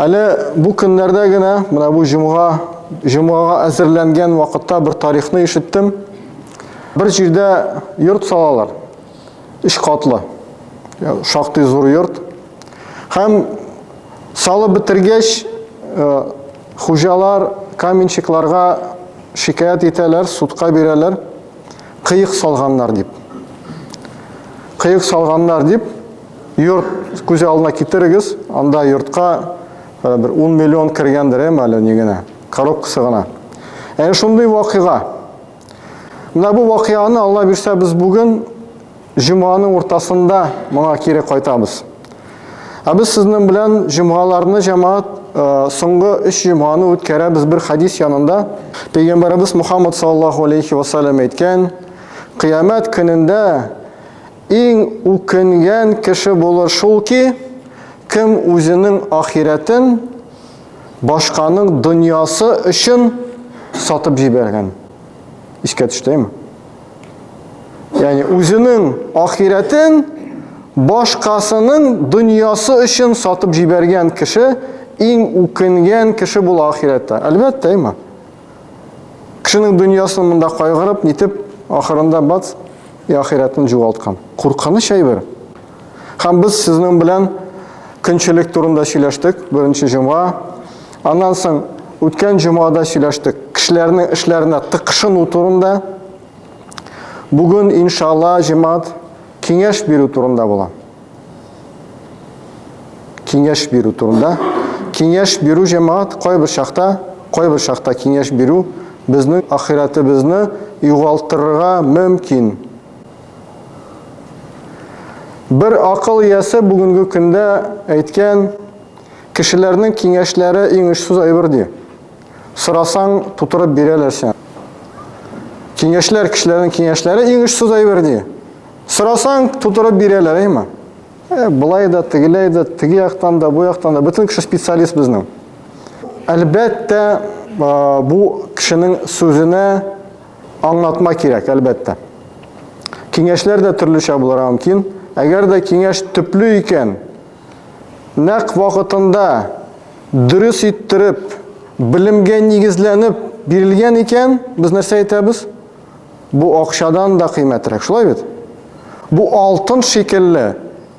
Әле бу көннәрдә генә, менә бу җомга, җомгага әзерләнгән вакытта бер тарихны ишеттем. Бер җирдә йорт салалар. Өч катлы. Шактый зур йорт. Һәм салып бетергәч, хуҗалар каменщикларга шикаять итәләр, судка бирәләр. Кыек салганнар дип. Кыек салганнар дип. Йорт күзе алдына китерегез, анда йортка э, бер 10 миллион кергәндер, әм әле ни генә, коробкасы гына. Әнә шундый вакыйга. Менә бу вакыйганы Алла бирсә без бүген җомганың уртасында моңа кире кайтабыз. Ә без сезнең белән җомгаларны җәмәгать э, соңгы 3 җомганы үткәрәбез бер хадис янында. Пәйгамбәребез Мухаммад саллаллаһу алейхи ва саллям әйткән, кыямәт көнендә Иң үкенгән кеше булыр шул ки, кем үзенең ахирәтен башканың дөньясы өчен сатып җибәргән. Искә төштеме? Ягъни үзенең ахирәтен башкасының дөньясы өчен сатып җибәргән кеше иң үкенгән кеше була ахирәттә. Әлбәттә, әйме? Кешенең дөньясын монда кайгырып, нитеп, ахырында бац, и ахирәтен җуалткан. Куркыныч әйбер. Һәм без сезнең белән көнчелек турында сөйләштек, беренче җомга. Аннан соң үткән җомгада сөйләштек, кешеләрнең эшләренә тыкшыну турында. Бүген, иншалла, җемат киңәш бирү турында була. Киңәш бирү турында. Киңәш бирү җәмәгать кайбер чакта, кайбер чакта киңәш бирү безнең ахирәтебезне югалтырга мөмкин. Бер акыл иясе бүгенге көндә әйткән, кешеләрнең киңәшләре иң очсыз әйбер ди. Сорасаң, тутырып бирәләр сиңа. Киңәшләр, кешеләрнең киңәшләре иң очсыз әйбер ди. Сорасаң, тутырып бирәләр, әйме? Ә, былай да, тегеләй дә, теге яктан да, бу яктан да, бөтен кеше специалист безнең. Әлбәттә, бу кешенең сүзенә аңлатма кирәк, әлбәттә. Киңәшләр дә төрлечә булырга мөмкин. Әгәр дә киңәш төпле икән, нәкъ вакытында дөрес иттереп, белемгә нигезләнеп бирелгән икән, без нәрсә әйтәбез? Бу акчадан да кыйммәтрәк, шулай бит? Бу алтын шикелле.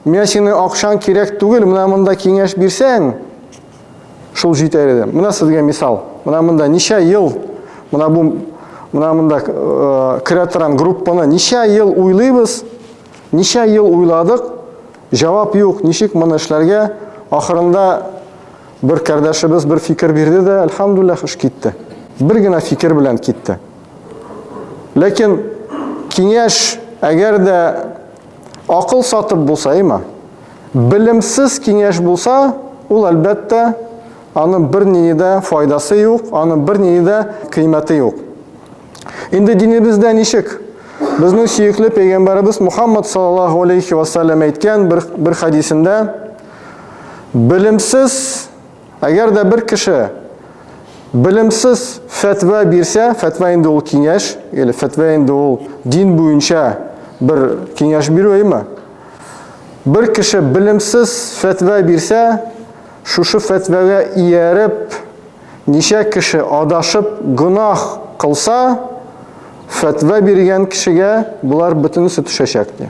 Миңа синең акчаң кирәк түгел, менә монда киңәш бирсәң, шул җитәр иде. Менә сезгә мисал. Менә монда ничә ел, менә бу менә монда э, керә торган группаны ничә ел уйлыйбыз, ничә ел уйладык, җавап юк, ничек моны эшләргә? Ахырында бер кардәшебез бер фикер бирде дә, альхамдулиллах, эш китте. Бер генә фикер белән китте. Ләкин киңәш, әгәр дә акыл сатып булса, има, белемсез киңәш булса, ул әлбәттә аның бер нинди дә файдасы юк, аның бер нинди дә кыйммәте юк. Инде динебездә ничек? Безнең сөекле пәйгамбәребез Мухаммад саллаллаһу алейхи ва саллям әйткән бер бер хадисендә белемсез Әгәр дә бер кеше белемсез фәтва бирсә, фәтва инде ул киңәш, или фәтва инде ул дин буенча бер киңәш бирү әйме? Бер кеше белемсез фәтва бирсә, шушы фәтвәгә ияреп, ничә кеше адашып гөнаһ кылса, фәтва биргән кешегә болар бөтенесе төшәчәк ди.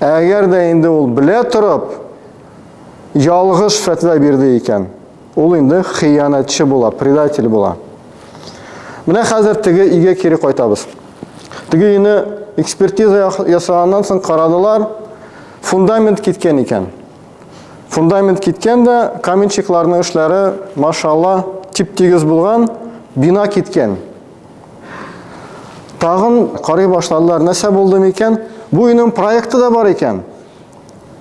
Ә әгәр дә инде ул белә торып ялгыш фәтва бирде икән, ул инде хыянәтче була, предатель була. Менә хәзер теге өйгә кире кайтабыз. Теге өйне экспертиза ясаганнан соң карадылар, фундамент киткән икән. Фундамент киткән дә, каменщикларның эшләре, машалла, тип-тигез булган, бина киткән. Тагын карый башладылар, нәрсә булды микән? Бу өйнең проекты да бар икән.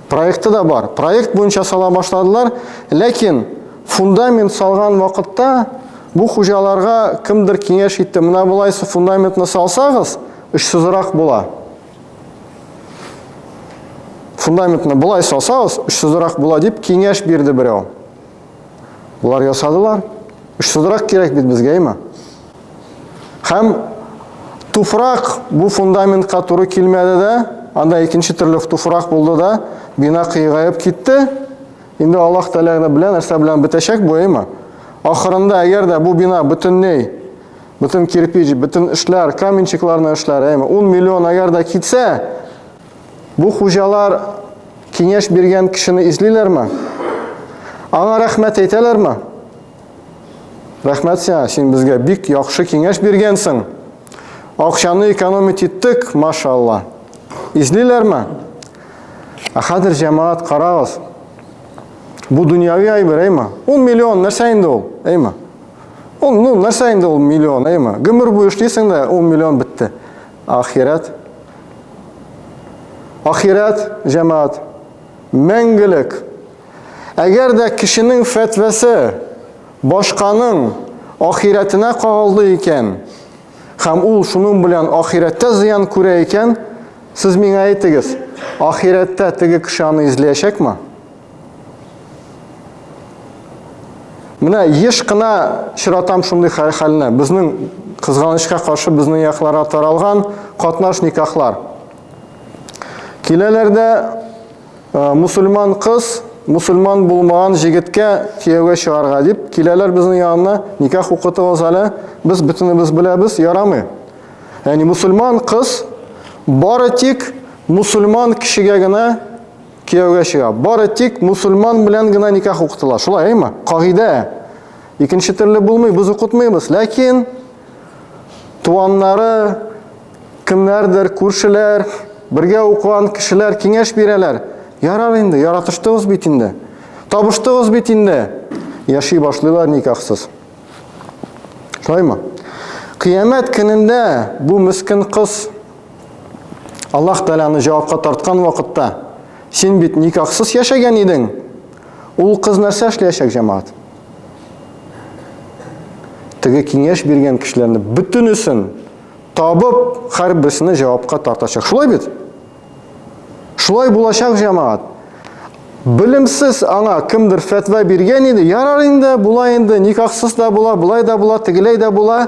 Проекты да бар. Проект буенча сала башладылар, ләкин фундамент салган вакытта бу хуҗаларга кемдер киңәш итте, менә болайсы фундаментны салсагыз, очсызрак була. Фундаментны болай салсагыз, очсызрак була дип киңәш бирде берәү. Болар ясадылар. Очсызрак кирәк бит безгә, имә. Һәм туфрак бу фундаментка туры килмәде дә, анда икенче төрле туфрак булды да, бина кыйгаеп китте. Инде Аллаһ Тәгалә белән нәрсә белән бетәчәк бу, имә. Ахырында әгәр дә бу бина бөтенләй бөтен кирпич, бөтен эшләр, каменчикларны эшләр, әйме, 10 миллион әгәр дә китсә, Бу хуҗалар киңәш биргән кешене излиләрме? Аңа рәхмәт әйтәләрме? Рәхмәт сиңа, син безгә бик яхшы киңәш биргәнсең. Акчаны экономить иттек, машалла. Излиләрме? Ә хәзер җәмәгать карагыз. Бу дөньяви әйбер, әйме? Ул миллион нәрсә инде ул? Әйме? Ул ну нәрсә инде ул миллион, әйме? Гомер буе эшлисең дә, ул миллион бетте. Ахирәт. Ахирәт, җәмаат, мәңгелек. Әгәр дә кешенең фәтвәсе башканың ахирәтенә кагылды икән, һәм ул шуның белән ахирәттә зыян күрә икән, сез миңа әйтегез, ахирәттә теге кеше аны изләячәкме? Менә еш кына чыратам шундый хәлне. Безнең кызганычка каршы безнең якларга таралган катнаш никахлар. Киләләр дә э, мусульман кыз мусульман булмаган җегеткә кияүгә чыгарга дип киләләр безнең янына, никах укытыгыз әле, без бөтенебез беләбез, ярамый. Яни мусульман кыз бары тик мусульман кешегә генә Кияүгә чыга. Бары тик мусульман белән генә никах укытыла. Шулай, әйме? Кагыйдә. Икенче төрле булмый, без укытмыйбыз. Ләкин туаннары, кемнәрдер, күршеләр, бергә укыган кешеләр киңәш бирәләр. Ярар инде, яратыштыгыз бит инде. Табыштыгыз бит инде. Яши башлыйлар никахсыз. Шулаймы? Кыямәт көнендә бу мескин кыз Аллаһ Тәгаләне җавапка тарткан вакытта, син бит никахсыз яшәгән идең. Ул кыз нәрсә эшләячәк, җәмәгать? Теге киңәш биргән кешеләрне бөтенесен табып, һәрберсенә җавапка тартачак. Шулай бит? Шулай булачак, җәмәгать. Белемсез аңа кемдер фәтва биргән иде, ярар инде, була инде, никахсыз да була, болай да була, тегеләй дә була.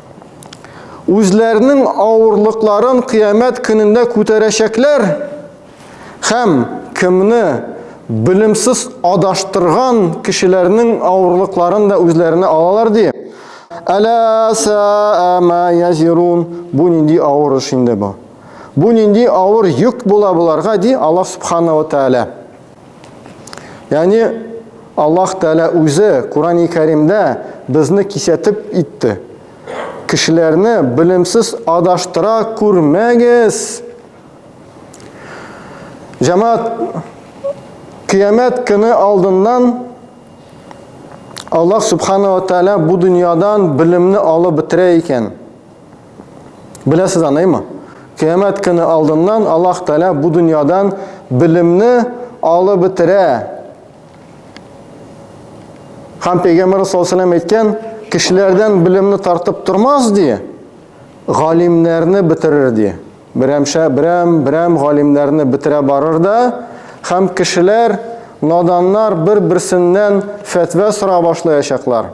үзләренең авырлыкларын кыямәт көнендә күтәрәчәкләр һәм кемне белемсез адаштырган кешеләрнең авырлыкларын да үзләренә алалар ди. Әлә сәәмә язирун. Бу нинди авыр эш инде бу. Бу нинди авыр йөк була боларга ди Аллаһ субхана ва тәгалә. Яни Аллаһ Тәгалә үзе Курани Кәримдә безне кисәтеп итте. Кешеләрне белемсез адаштыра күрмәгез. Җәмәт кыямәт көне алдыннан Аллаһ Субхану ва Тәгалә бу дөньядан белемне алып бетерә икән. Беләсез аныймы? Кыямәт көне алдыннан Аллаһ Тәгалә бу дөньядан белемне алып бетерә. Һәм Пәйгамбәр саллаллаху алейһи әйткән, кешеләрдән белемне тартып тормас ди, галимнәрне бетерер ди. Берәмшә, берәм, берәм галимнәрне бетерә барыр да, һәм кешеләр, наданнар бер-берсеннән фәтва сора башлаячаклар.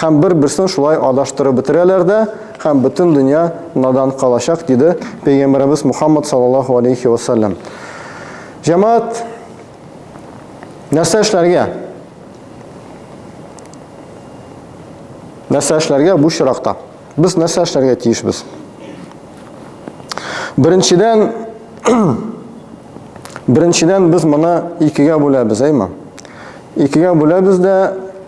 Һәм бер-берсен шулай адаштырып бетерәләр дә, һәм бөтен дөнья надан калачак, диде Пәйгамбәребез Мухаммад саллаллаһу алейхи ва саллям. Җәмәгать, нәрсә эшләргә? Нәрсә эшләргә бу чиракта? Без нәрсә эшләргә тиешбез? Беренчедән, беренчедән без моны икегә бүләбез, әйме? Икегә бүләбез дә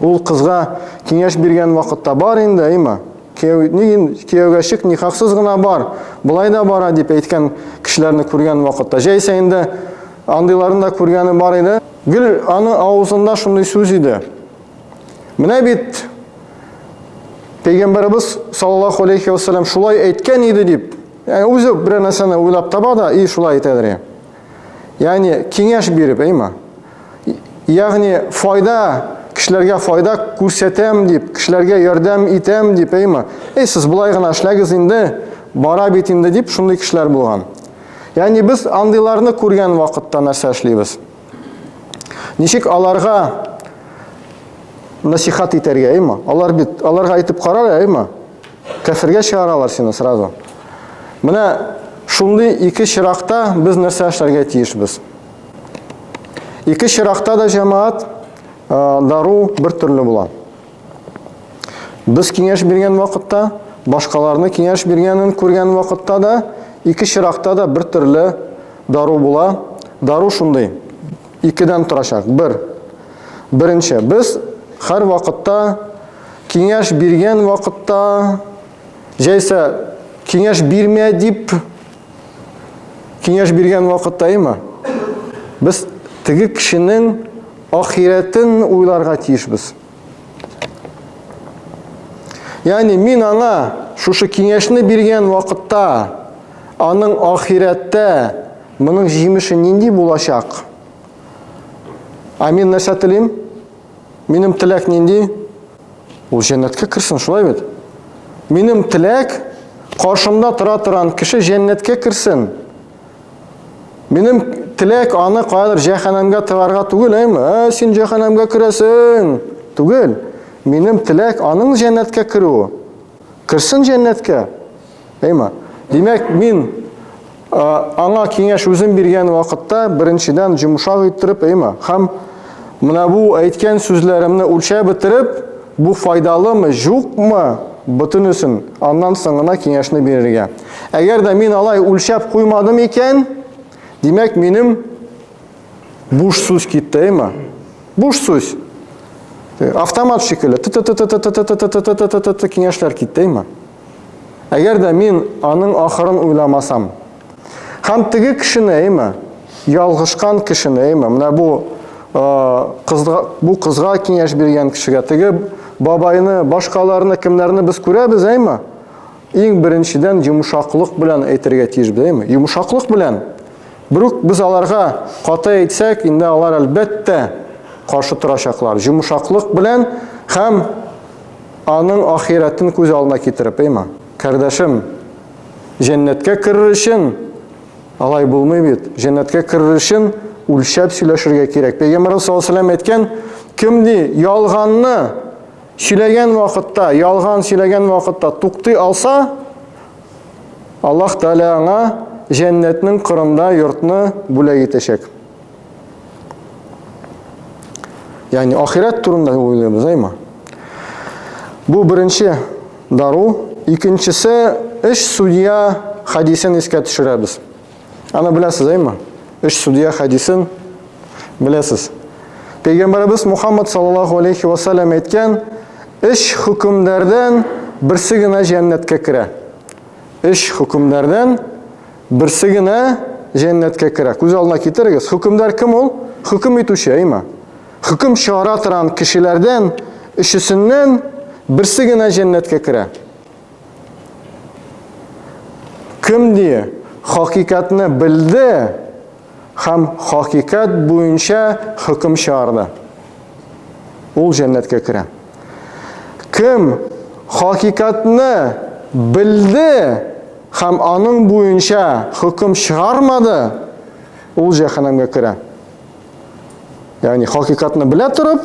Ул кызга киңәш биргән вакытта бар инде, әйма. Кияүгә чык, никахсыз гына бар. Болай да бара дип әйткән кешеләрне күргән вакытта. Җәйсә инде андыйларын да күргәне бар иде. Гел аны авызында шундый сүз иде. Менә бит Пәйгамбәрбез саллаллаху алейхи ва саллям шулай әйткән иде дип. Яни үзе бер нәрсәне уйлап таба да и шулай әйтәдер. Ягъни киңәш биреп, әйма. Ягъни файда, кешеләргә файда күрсәтәм дип, кешеләргә ярдәм итәм дип, әйма. Эй, сез болай гына эшләгез инде, бара бит инде дип шундый кешеләр булган. Ягъни без андыйларны күргән вакытта нәрсә эшлибез? Ничек аларга насихат итәргә, әйма? Алар бит, аларга әйтеп карар, әйма? Кәфергә чыгаралар сине сразу. Менә шундый ике чиракта без нәрсә эшләргә тиешбез? Ике чиракта да җәмаат дару бер төрле була. Без киңәш биргән вакытта, башкаларны киңәш биргәнен күргән вакытта да, ике чиракта да бер төрле дару була. Дару шундый, икедән торачак. Бер, беренче, без һәр вакытта Киңәш биргән вакытта, җәйсә киңәш бирмә дип киңәш биргән вакытта има. Без теге кешенең ахирәтен уйларга тиешбез. Яни мин аңа шушы киңәшне биргән вакытта аның ахирәттә моның җимеше нинди булачак? Амин нәрсә телим? Минем теләк нинди? Ул җәннәткә керсен, шулай бит? Минем теләк каршымда тора торган кеше җәннәткә керсен. Минем теләк аны кадәр җәһәннәмгә тыгарга түгел, әйме? Ә син җәһәннәмгә керәсең. Түгел. Минем теләк аның җәннәткә керүе. Керсен җәннәткә. Әйма. Димәк, мин аңа киңәш үзем биргән вакытта беренчедән җомшак иттереп, әйма, һәм менә бу әйткән сүзләремне үлчәп бетереп, бу файдалымы, җукмы, бөтенесен аннан соң гына киңәшне бирергә. Әгәр дә мин алай үлчәп куймадым икән, димәк, минем Буш сүз киттеме? Буш сүз. Автомат шикелле. Киңәшләр киттеме? Әгәр дә мин аның ахырын уйламасам. Һәм теге кешене, әйме? Ялгышкан кешене, әйме? Менә бу кызга, бу кызга киңәш биргән кешегә, теге бабайны, башкаларны, кемнәрне без күрәбез, әйме? Иң беренчедән йомшаклык белән әйтергә тиеш, әйме? Йомшаклык белән. Брук, без аларга каты әйтсәк, инде алар, әлбәттә, каршы торачаклар, җомшаклык белән һәм аның ахирәтен күз алдына китереп, эйма, кардәшем, җәннәткә керер өчен, алай булмый бит, җәннәткә керер өчен үлчәп сөйләшергә кирәк. Пәйгамбәрбез саллаллаһу алейһи ва сәлләм әйткән, кем ди ялганны сөйләгән вакытта, ялган сөйләгән вакытта туктый алса, Аллаһ Тәгалә аңа җәннәтнең кырында йортны бүләк итәчәк. Ягъни ахирәт турында уйлыйбыз, әйме? Бу беренче дару, икенчесе эш судья хадисен искә төшерәбез. Аны беләсез, әйме? Өч судья хәдисен беләсез. Пәйгамбәребез Мухаммад саллаллаху алейхи ва саллям әйткән, өч хөкемдәрдән берсе генә җәннәткә керә. Өч хөкемдәрдән берсе генә җәннәткә керә. Күз алдына китерегез. Хөкемдар кем ул? Хөкем итүче, әйме? Хөкем чыгара торган кешеләрдән өчесеннән берсе генә җәннәткә керә. Кем ни хакыйкатьне белде һәм хакыйкать буенча хөкем чыгарды, ул җәннәткә керә. Кем хакыйкатьне белде һәм аның буенча хөкем чыгармады, ул җәһәннәмгә керә. Ягъни хакыйкатьне белә торып,